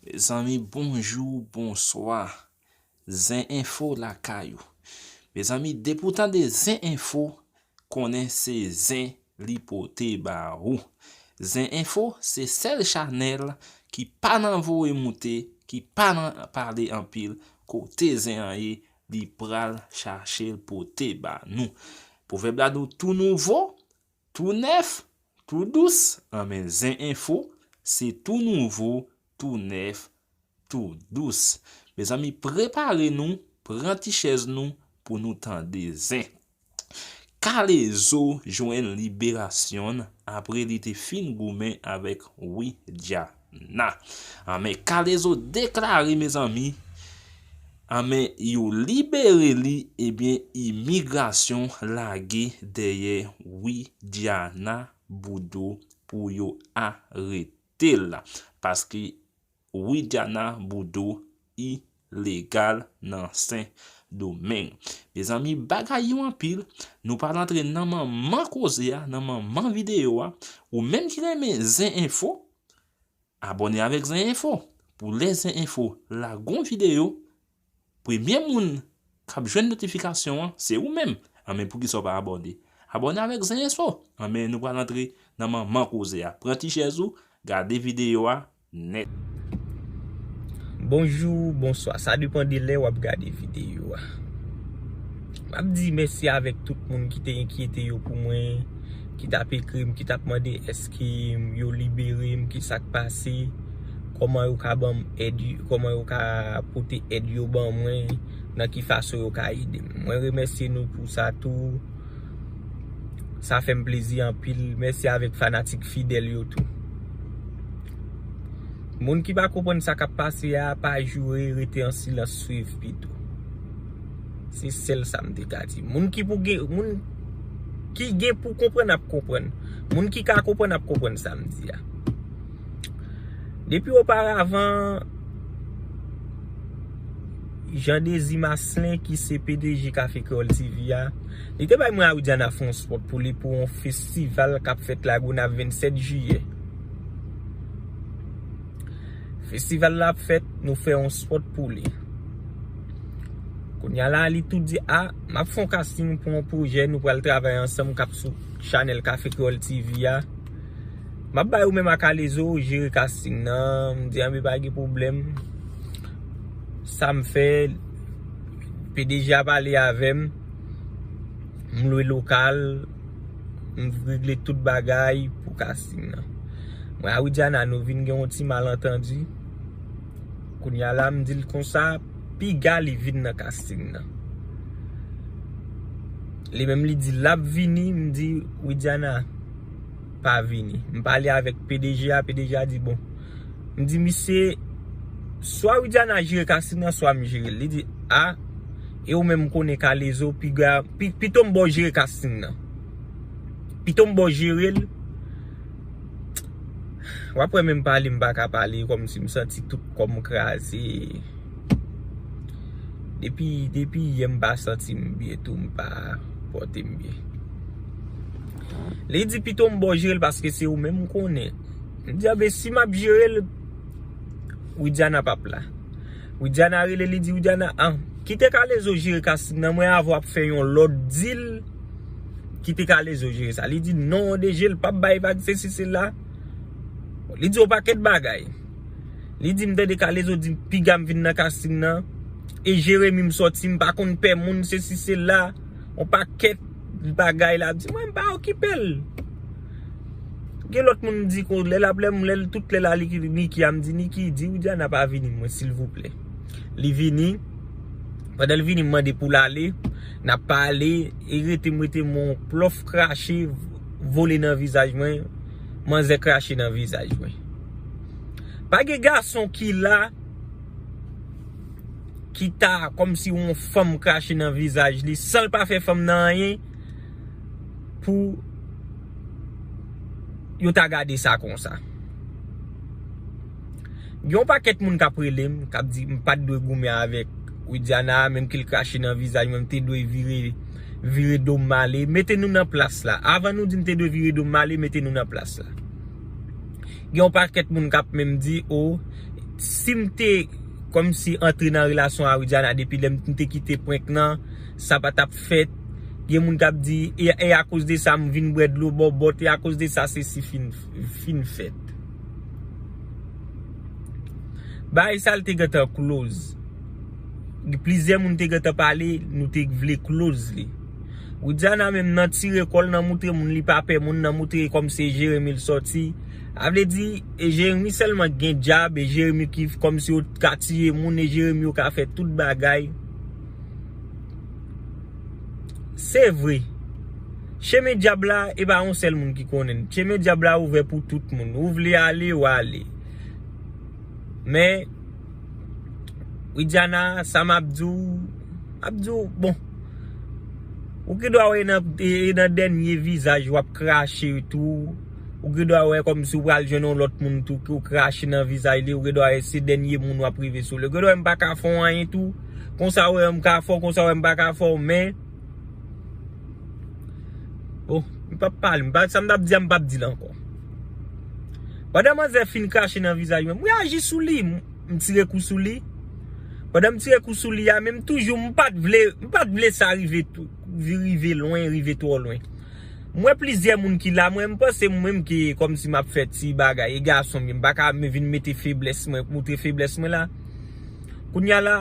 Mezanmi bonjou bonswa zen enfo lakay ou mezanmi depi ou tande zen enfo konnen se zen li pote ba ou zen enfo se sèl chanèl ki pa nan voye moute ki pa nan pale anpil kote zen an ye li pral chachel pote ba nou pwovèb la nou tou nouvo Tou nèf, tou dous, an men zen enfo, se tou nouvo, tou nèf, tou dous. Mezanmi prepare nou, pran ti chèz nou pou nou tande zen. Kalezo jwenn liberasyonn apre li te fin goumen avèk Widya. Na. Anmen kalezo deklare mezanmi Anmen yo libere li ebyen imigrasyon lage dèyè widiana bodo pou yo aretel paske widiana bodo ilegal nan sen domeng. Mezanmi bagay yo anpil nou pral antre nan manman koze a nan manman video a ou menm ki renmen zen enfo abone avek zen enfo pou lè zen enfo lage yon video premye moun kap jwenn notifikasyon an se ou menm anben pou kisa ou pa abone abone avek zen enfo anben nou pral antre nan manman koze a pran ti chèz ou gade video a. nèt. Bonjou, bonswa, sa depan de lè wap gade videyo a. Map di mèsi avèk tout moun ki te enkyete yo pou mwen, ki tap ekri m, ki tap mande eske yo libere m, ki sak pase, kòman yo ka banm èd, kòman yo ka pote èd yo ban mwen, nan ki fason yo ka ede m. Mwen remèsye nou pou sa tou. Sa fèm plezi anpil. Mèsi avèk fanatik fidèl yo tou. Moun ki pa konprann sa kap pase a, pa joure, rete an silans swiv pito. Se sèl sa m te ka di. Moun ki pou gen, moun ki gen pou konprann ap konprann. Moun ki ka konprann ap konprann sa m di a. Depi oparavan. Jean Désir Maslin ki se pdg Café Creole TV a, li te bay mwen a Widiana fè yon spot pou li pou yon festival kap fèt la Gonave 27 jiyè. Festival la ap fèt, nou fè yon spot pou li. Kounya la li tou di a, map fè yon casting pou yon projè nou pral travay ansanm kap sou chanèl Café Creole TV a. Map bay ou menm a kalezo jere casting nan Dianbe pa gen problem Sam fè pdg a pale avem M lwe lokal M regle tout bagay pou casting nan Mwen a Widiana nou vin gen yon ti malentendu Kounya la m dil konsa piga li vin nan casting nan Li menm li di lap vini M di Widiana pa vini. M pale avèk pdg a, pdg a di bon. M di misye, swa Widiana jere Kassim nan swa m jere l. Li di, a, e ou menm m konnen kalezo, pito m ba w jere Kassim nan. Pito m ba w jere l. W ap wè menm pale m pa ka pale kòm si m santi tout kò m kraze. Depi yè m pa santi m byen tou, m pa pòte m byen. Li di pito m bo jere l paske se ou menm m konnen. M di a be si map jere l Widiana pap la. Widiana rele li di Widiana an kite kalezo jere kassim nan mwen avè w ap fè yon lòt dil kite kalezo jere sa. Li di non de je l pap bay vag se si se la. Li di yon pakèt bagay. Li di m tande kalezo di piga m vin nan kassim nan e jeremi m sòti m pa konn pè moun se si se la. On pakèt bagay lap di mwen mpa okipel. Gen lòt moun mdi kon lè lap lè mwen lè tout lè la li Niki a mdi Niki di Widiana pa vini mwen silvouplè. Li vini pandan li vini mande poul ale nap pale e rete mwen rete mwen on plof krache vole nan vizaj mwen manzè krache nan vizaj mwen. Pa gen gason ki la. Kita kòm si yon fanm krache nan vizaj li san l pa fè fanm nan anyen pou yo ta gade sa konsa. Gen yon pakèt moun k ap rele m, k ap di m pa t dwe goumen avèk Widiana a menm ke l krache nan vizaj mwen, m te dwe vire, vire do m ale. Mete nou nan plas la. Avan nou di m te dwe vire do m ale, mete nou nan plas la. Gen yon pakèt moun kap menm di oh sim te kòmsi antre nan relasyon a Widiana depi lèm te kite prank nan sa pa tap fèt gen moun kap di e akoz de sa m vin bwè dlo bòbòt e akoz de sa sesi fin fèt bagay sa te gentan close plizyè moun te gentan pale nou te vle close li. Widiana menm nan tire kòl nan moutre moun li pa pè moun nan moutre kòm se Jérémie l sòti a vle di e Jérémie sèlman k gen djab e Jérémie ki kòm si yo t ka tiye moun e Jérémie yo ka fè tout bagay se vre chemen djab la e pa yon sèl moun ki konnen l chemen djab la ouvè pou tout moun ou vle ale w ale men. Widiana, sa m ap di w, m ap di w, bon, ou gen dwa wè e nan dènye vizaj w ap krache tou, ou gen dwa wè kòmsi ou pral jwenn yon lòt moun tou ki ou krache nan vizaj li, ou gen dwa wè se dènye moun w ap rive sou li. Ou gen dwa wè m pa ka fè w anyen tou, konsa ou wè m ka fè w, konsa ou wè m pa ka fè w, men. Bon, m pap pale, m pa, sa m tap di a m pap di l ankò. Pandan manzè fin krache nan vizaj mwen, m reyaji sou li, m tire kou sou li. Pandan m tire kou sou li a, men m toujou, m pat vle, m pat vle sa rive tou, rive lwen, rive twò lwen. M wè plizyè moun ki la, mwen m panse m menm ki kòm si m ap fè ti bagay, e gason m ye, m pa ka vin mete feblès mwen, montre feblès mwen la. Kounye a la,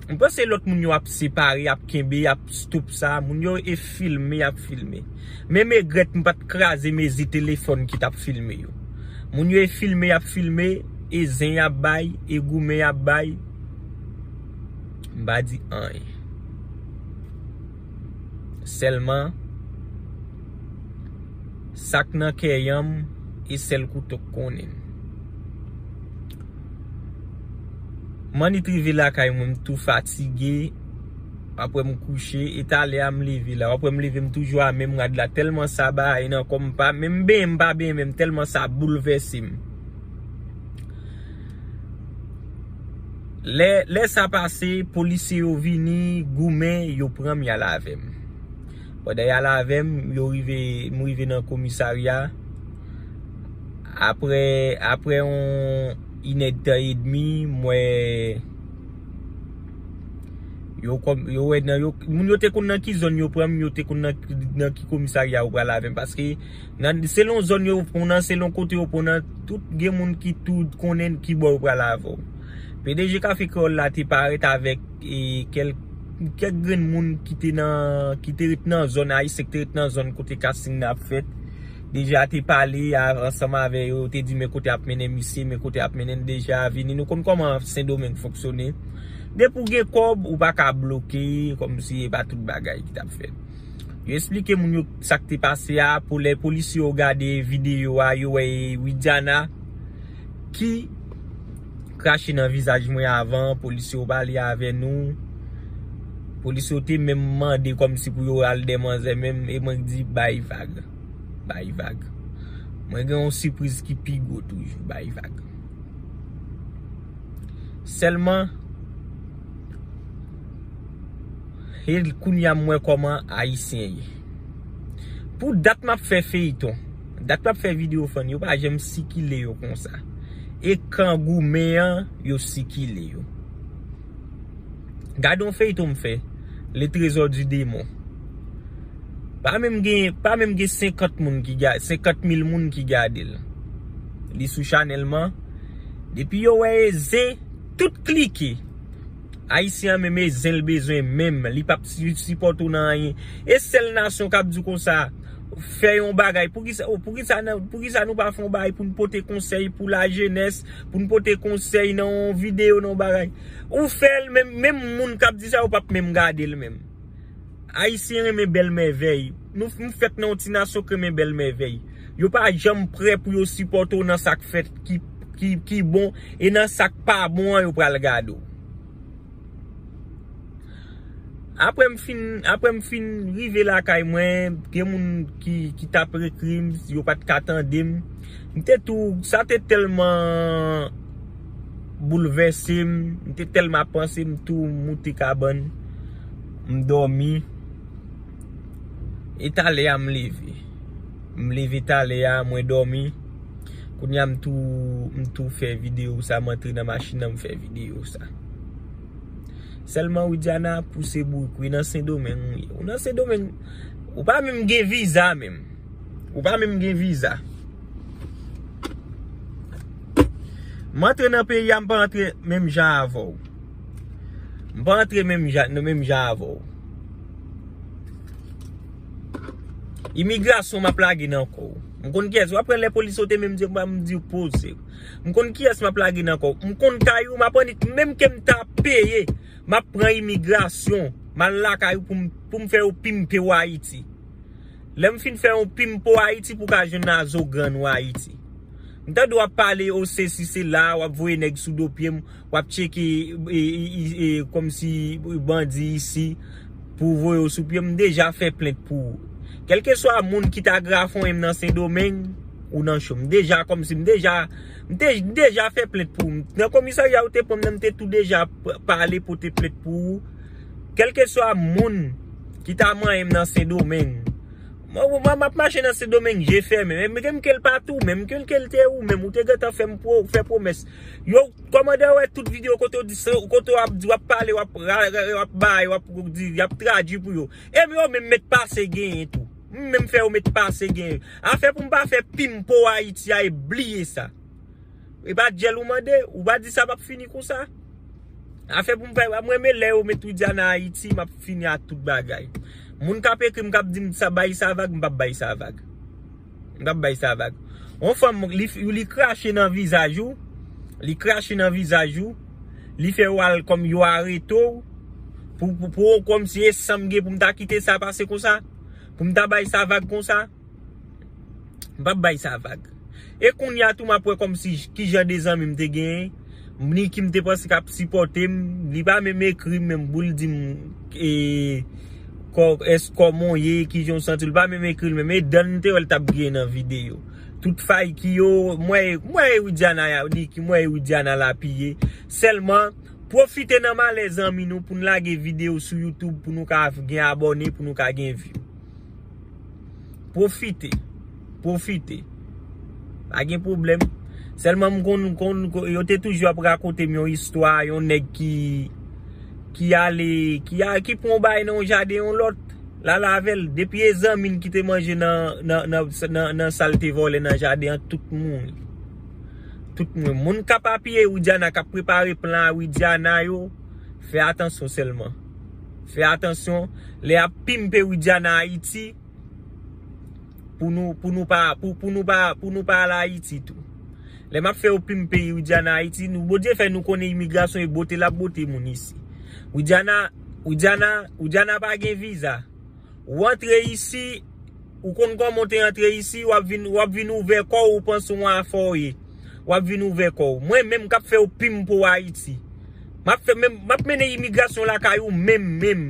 m panse lòt moun yo ap separe, ap kenbe, y ap stop sa. Moun yo e filme, y ap filme. Men m egrèt m pa t kraze mezi telefòn ki t ap filme yo. Moun yo e filme, y ap filme, e zen y ap bay, e goumen y ap bay. M pa di anyen. Sèlman, sa k nan kè yanm, e sèl kouto k konnen. Manit rive lakay mwen m tou fatige Wap wè m kouche e talè a m leve la Wap wè m leve m toujou a menm rad la Tèlman sa baye nan kò m m pa menm benyen m pa benyen menm tèlman sa boulvèse m Lè sa pase polisye yo vini goumen yo pran m y al avè m. Pandan yal avè m, yo rive, m rive nan komisarya. Aprè, aprè yon inèdtan edmi, m wè yo kòm, yo wè nan yo, moun yo te konn nan ki zòn yo pran m, yo te konn nan ki komisarya yo pral avè m. Paske, nan, selon zòn yo pran w nan, selon kote yo pran w nan, tout gen moun ki tou konnen ki bò yo pral avè w. Pdg Café Créole la te parèt avèk. kèk grenn moun ki te nan, ki te ret nan zòn, ayisyen ki te ret nan zòn kote casting nan ap fèt, deja te pale ansanm avè yo, te di men kote ap mennen misye, men kote ap mennen deja, vini, nou konn kòman sendomeng fonksyone, depi ou gen kòb, ou pa ka bloke, kòm si e pa tout bagay ki tap fèt. Yo esplike moun yo sak te pase a, pou lè polisye yo gade videyo a, yo wè e Widiana. Ki krache nan vizaj mwen avan polisye yo pale avè nou polisye yo te menm mande kòm si pou yo al dè manzè menm e mwen k di bay vag bay vag mwen gen yon sipriz ki pi gwo toujou bay vag sèlman e kounye a m wè kòman ayisyen ye pou dat m ap fè feyton. Dat map fè video fany yo pa janm sikile yo konsa e kan goumen an yo sikile yo gad yon feyton m fè le trésor du démon pa menm gen pa menm gen 50 moun ki gad 50 mil moun ki gadel li sou chanèl m an depi yo wè e zen tout klike ayisyen an menm e zen l bezwen menm li pap sipòte w nan anyen e sèl nasyon kap di w konsa. Fè yon bagay. Poukisa oh poukisa nan poukisa nou pa fè yon bagay pou nou pote konsèy pou la jenès, pou nou pote konsèy nan yon videyo nan yon bagay. Ou fèl men menm moun kap di sa yo pap menm gadel menm. Ayisyen renmen bèl mèvèy. Nou nou fèt nan yon ti nasyon k renmen bèl mèvèy. Yo pa janm prè pou yo sipòte w nan sak fèt ki ki bon e nan sak pa bon an yo pral gade w. Aprem fin aprem fin rive lakay mwen gen moun ki tap ekrim yo pat ka tandem m te tou sa te telman boulvèsem m te telman ap panse m tou moute kabann m domi e talè a m leve. M leve talè a mwen domi Kounya m tou m tou fè video sa m antre nan machin nan m fè video sa Selman Widiana pou se bourik wi nan sendomeng ou ye ou nan sendomeng ou pa menm gen viza menm ou pa menm gen viza M antre nan peyi a m pa antre menm jan avè w M pa antre menm jan menm jan avè w. Imigrasyon map lage nan kòw. M konn kiyès wap pran lè polis sote menm diw banm diw pozew. M konn kiyès map lage nan kòw. M konn kay ou map annik menm kem ta peye map pran imigrasyon mal lakay ou poum poum fè yon pimpe ou ayiti. Lèm fin fè yon pimpe ou ayiti pou ka jwenn nan zo grann ou ayiti. M tande wap pale ou sesi sela wap voye nèg sou do pyem. wap tcheke komsi bandi isi pou voye ou sou pye m deja fè plent pou ou kelke swa moun ki ta grafonyen m nan sendomeng ou nan cho m deja komsi m deja m deja fè plent pou ou nan komisarya ou te pran m nan m te tou deja pale pote plent pou ou kelke swa moun ki ta manyen m nan sendomeng mwen map mache nan sendomeng je fèmen menm ke l pa tou menm menm ke l te ou menm ou te gentan fè m fè pwomès. Yow kòmandan wè tout video kote w di se kote w ap di w ap pale w ap bay w ap di y ap tradui pou yo e m yo menm met pase genyen tou m menm fè yo met pase genyen afè pou m pa fè pim po ayiti a e bliye sa e pa dyèl ou mande ou pa di sa p ap fini konsa afè pou m fè m renmen lè yo met widiana ayiti m ap fini a tout bagay moun k ap ekri m k ap di m sa bay sa vag m p ap bay sa vag. M tap bay sa vag. Yon fanm li krache nan vizaj ou, li krache nan vizaj ou, li fè ou al kòm yo arete ou, pou ou kòm si e sam gen pou m ta kite sa pase konsa? Pou m ta bay sa vag konsa? M pap bay sa vag. E kounya tou map wè kòm si kijan de zanmi m te gen, ni ki m te panse kap sipòte m, li pa menm ekri m menm pou l di m e. Kòkès kòmanw ye kijanw santiw pa menm ekril menm e dan mte wèl tap griyen nan video tout fay kiyo m wè m wè e widiana ya di ki m wè e widiana la piye sèlman pwofite nan malè zanmi nou poun lage video sou youtube pou nou ka gen abòne pou nou ka gen view pwofite. Pwofite. Pa gen pwoblèm. Sèlman m konn, konn, konn, yo te toujou ap rakonte m yon istwa, yon nèg ki, ki ale, ki a, ki pran yon bagay nan yon jaden yon lòt, l al avè l. Depi e zanmi l ki te manje nan, nan, nan, nan, nan sa l te vòlè nan jaden an, tout mouri. Tout mouri. Moun k ap apiye Widiana, k ap prepare plan a Widiana yo, fè atansyon sèlman. Fè atansyon. Lè y ap pimpe Widiana Ayiti. Pou nou, pou nou pa, pou nou pa, pou nou pa al Ayiti tou. Lè map fè ou pim peyi Widiana Ayiti, nou Bondye fè nou konnen imigrasyon e bote lap bote moun isi. Widiana, Widiana, Widiana pa gen viza. Ou antre isi, ou konn kòman ou te antre isi, wap vin, wap vin ouvè kò ou panse ou afè ou ye. Wap vin ouvè kò ou. Mwen menm kap fè ou pim pou Ayiti. Map fè menm, map mennen imigrasyon lakay ou menm menm.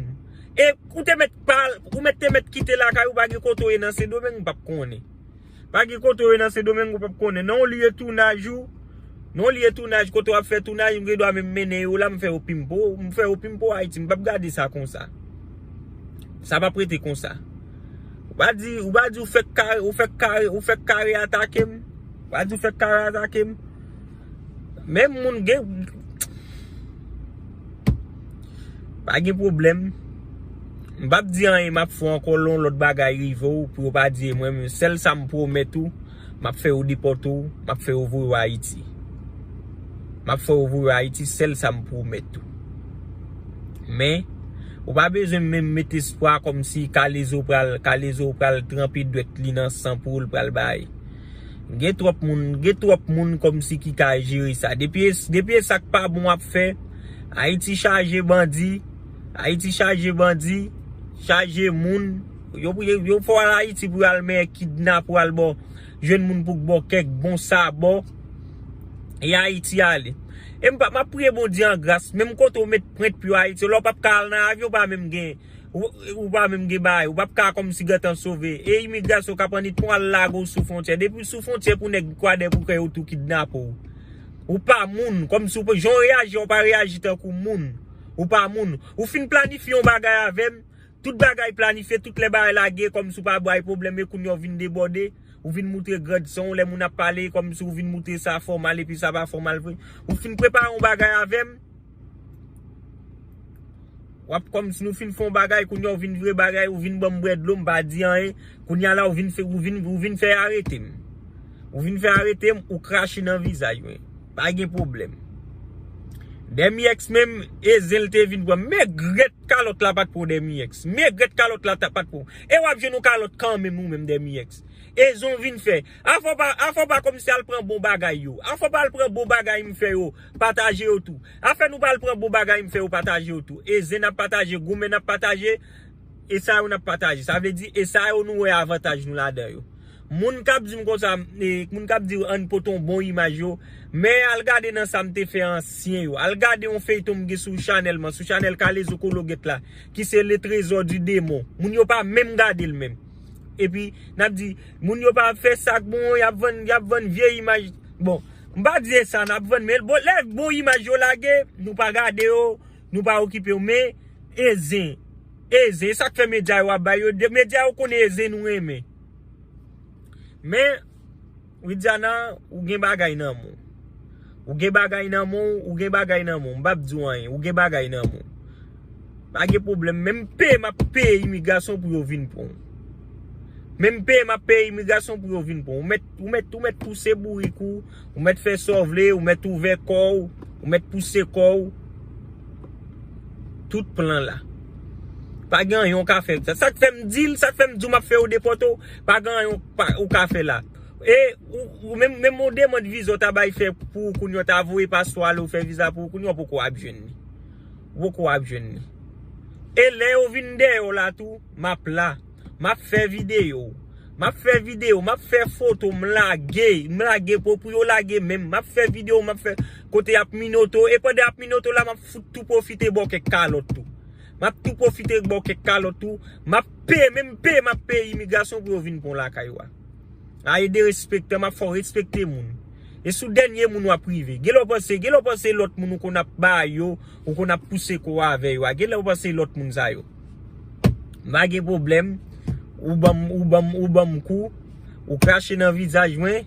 E ou te mèt. Ou mèt te mèt kite lakay ou pa gen kote ou ye nan sendomeng ou pap konnen. Pa gen kote ou ye nan sendomeng ou pap konnen. Nan yon lye tounaj ou, nan yon lye tounaj kote wap fè tounaj mwen gen dwa menm mennen yo la mwen fè yo pimpo, mwen fè yo pimpo Ayiti mwen pap gade sa konsa. Sa pap rete konsa. Ou pa di, ou pa di ou fèk kare, ou fèk kare, ou fèk kare atakem. Ou pa di ou fèk kare atakem. Menm moun gen Pa gen problem M pap di anyen map fè ankò lè yon lòt bagay rive w pou yo pa di e mwen menm sèl sa m pwomèt ou map fè yo depòte w map fè yo voye w ayiti map fè yo voye w ayiti sèl sa m pwomèt ou men ou pa bezwen menm met espwa kòmsi kalezo pral kalezo pral tranpe dwèt li nan san poul pral bay. Gen twòp moun, gen twòp moun kòmsi ki ka jere sa. Depi e, depi e sak pa bon ap fè. Ayiti chaje bandi, Ayiti chaje bandi, chaje moun. Yo pou, yo fè w al Ayiti pou al men kidnap ou al ba w, jwenn moun pou k ba w kèk bon sabò. E Ayiti ale. E m pa, m ap priye Bondye an gras, menm kote ou met prent pou Ayiti, lè w pap ka al nan avyon ou pa menm gen. Ou pa menm gen bagay. Ou pap ka kòmsi gentan sove. E imigrasyon kap annik pou al lage w sou fontyè. Depi w sou fontyè pou nèg kwadè pou fè yo tou kidnape w. Ou pa moun. Kòmsi w pa jan w reyaji an ou pa reyaji tankou moun. Ou pa moun. Ou fin planifye yon bagay avè m. Tout bagay planifye. Tout lè bagay lage kòmsi w pa bay pwoblèm. E kounye a w vin debòde. Ou vin moutre grandson w lè moun ap pale. Kòmsi w vin moutre sa fòmal epi sa pa fòmal vre. Ou fin prepare yon bagay avè m. Wap kòm si nou fin fon bagay kounye a ou vin vire bagay ou vin banm bwè dlo m pa di anyen kounye a la ou vin ou vin fè arete m ou vin fè arete m ou krache nan vizaj mwen pa gen pwoblèm Dèmièks menm e zen l te vin pran m megrèt kalòt la pat pou Dèmièks megrèt kalòt la pat pou e wap jwenn yon kalòt kanmenm ou menm Dèmièks e zen w vin fè afè w pa afè w pa kòmanse al pran bon bagay yo afè w pa al pran bon bagay m fè yo. Pataje yo tou. Afè nou pral pran bon bagay m fè yo pataje yo tou. E zen ap pataje, goumen ap pataje, e sa yo n ap pataje. Sa vle di e sa yo nou wè avantaj nou ladan yo. Moun k ap di m konsa, moun k ap di an n pote yon bon imaj yo, men al gade nan sa m te fè ansyen yo. Al gade yon feyton m gen sou chanèl mwen, sou chanèl Kalezo Kologèt la, ki se Le Trésor du Démon. Moun yo pa menm gade l menm. Epi nap di moun yo pa fè sak bon yap vann yap vann vye imaj bon m pa di se sa nap vann men bon lè bon imaj yo lage nou pa gade yo nou pa okipe yo men e zen e zen e sak fè medya yo ap bay yo medya yo konnen e zen nou renmen men. Widiana ou gen bagay nan menw. Ou gen bagay nan menw ou gen bagay nan menw m pap diw anyen ou gen bagay nan menw. Pa gen pwoblèm menm peye map peye imigrasyon pou yo vin pranw. Menm peye map peye imigrasyon pou yo vin pranw. Ou mèt ou mèt pouse bourik ou, ou mèt fè sa w vle, ou mèt ouvè kòw, ou mèt pouse kòw. Tout plan la. Pa gen anyen ou ka fè. Sak fèm dil, sak fèm diw map fè yo depòte w. Pa gen anyen ou ka fè la. E ou menm menm yon demand viza ou ta bay fè pou ou kounye ou ta voye paspò ale ou fè viza pou ou kounye ou poko ap jwenn li. Ou poko ap jwenn li. E lè yo vin dèyè ou la tou map la. Map fè videyo. Map fè videyo. Map fè foto m lage. M lage pou pou yo lage menm. Map fè videyo map fè kote yap minote ou. E pandan yap minote ou la map fout tou pwofite ba ou kèk kalòt tou. Map tou profite baw kek kalot tou. Map peye menm peye map peye imigrasyon pou yo vin pran w lakay ou a. A e derespektan map fè w respekte moun. E sou dènye moun wap rive. Genlè w panse genlè w panse lot moun ou konn ap ba yo, ou konn ap pouse kò w avè yo a. Genlè w panse lot moun sa yo. M pa gen problem ou banm ou banm ou banm kou. Ou krache nan vizaj mwen,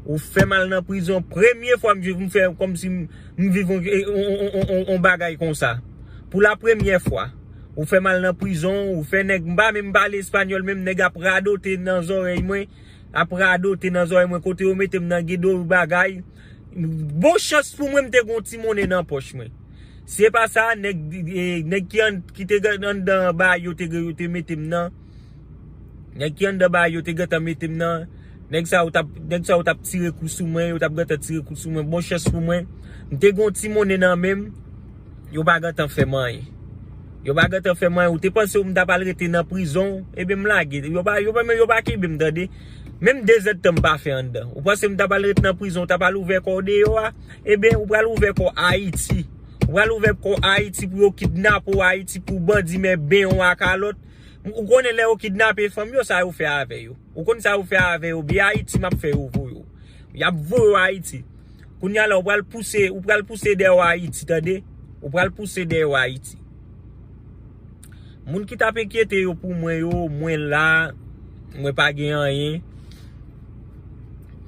ou fè mal nan prizon, premye fwa m fè kòmsi m viv yon bagay konsa. Pou la premyè fwa, ou fè mal nan prizon, ou fè nèg m pa menm pale espanyòl menm nèg ap radote nan zòrèy mwen, ap radote nan zòrèy mwen kote yo mete m nan gen do bagay. Bon chans pou mwen m te gen yon ti monnen nan pòch mwen. Si e pa sa, nèg ki te anndan ba yo te mete m nan. Nèg ki anndan baay yo te gentan mete m nan. Nèg sa yo t ap tire kou sou mwen. Yo t ap gentan tire kou sou mwen. Bon chans pou mwen, m te gen yon ti monnen nan men m. Yo pa gentan fè m anyen. Yo pa gentan fè m anyen. Ou te panse m t ap al rete nan prizon. Ebyen m lage. Yo pa kenbe m tande. Menm dezèdtan m pa fè anndan. Ou panse m t ap al rete nan prizon. Ou t ap al ouvè kò w deyò a. Ebyen ou pral ouvè kò w Ayiti. Ou pral ouvè kò w Ayiti pou yo kidnape w Ayiti pou bandi men benyen w a kalòt. Ou konnen lè yo kidnape fanm yo sa yo fè avè yo. Ou konn sa yo fè avè yo biyè ayiti map fè yo voye yo. Yap voye yo ayiti. Kounya la ou pral pouse ou pral pouse dèyè yo ayiti tande. Ou pral pouse dèyè yo ayiti. Moun ki tap enkyete yo pou mwen yo mwen la mwen pa gen anyen.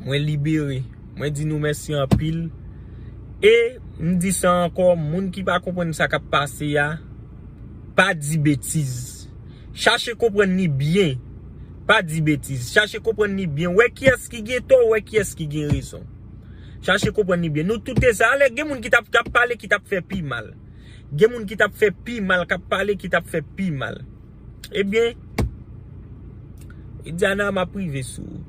Mwen libere. Mwen di nou mèsi anpil. E m di sa ankò moun ki pa konprann sa kap pase a. Pa di betiz. Chache konprann li byen. Pa di betiz. Chache konprann li byen. Wè kiyès ki gen tò, wè kiyès ki gen rezon. Chache konprann li byen. Nou tout te sa. Alè gen moun ki tap kap pale ki tap fè pi mal. Gen moun ki tap fè pi mal, kap pale ki tap fè pi mal. Ebyen, Diana map rive sou ou.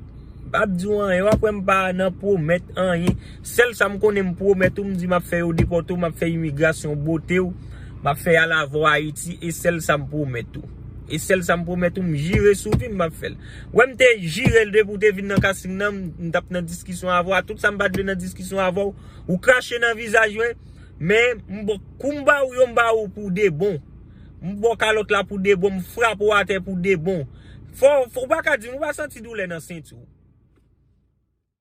Pap di w anyen, wap wè m pa nan pwomèt anyen. Sèl sa m konnen m pwomèt ou, m di m ap fè yo depòte w, m ap fè imigrasyon bote w, m ap fè y al avè w Ayiti, e sèl sa m pwomèt ou. E sèl sa m pwomèt ou, m jire sou vi m m ap fè l. Wè m te jire l depi w te vin nan casting nan, m t ap nan diskisyon avè w, a tout sa m pa t vle nan diskisyon avè w, ou krache nan vizaj mwen, men m bo kou m ba w yo m ba w pou debon. M bo w kalòt la pou debon, m frape w atè pou debon. Fò ou pa ka di m ou pa santi doulè nan senti w.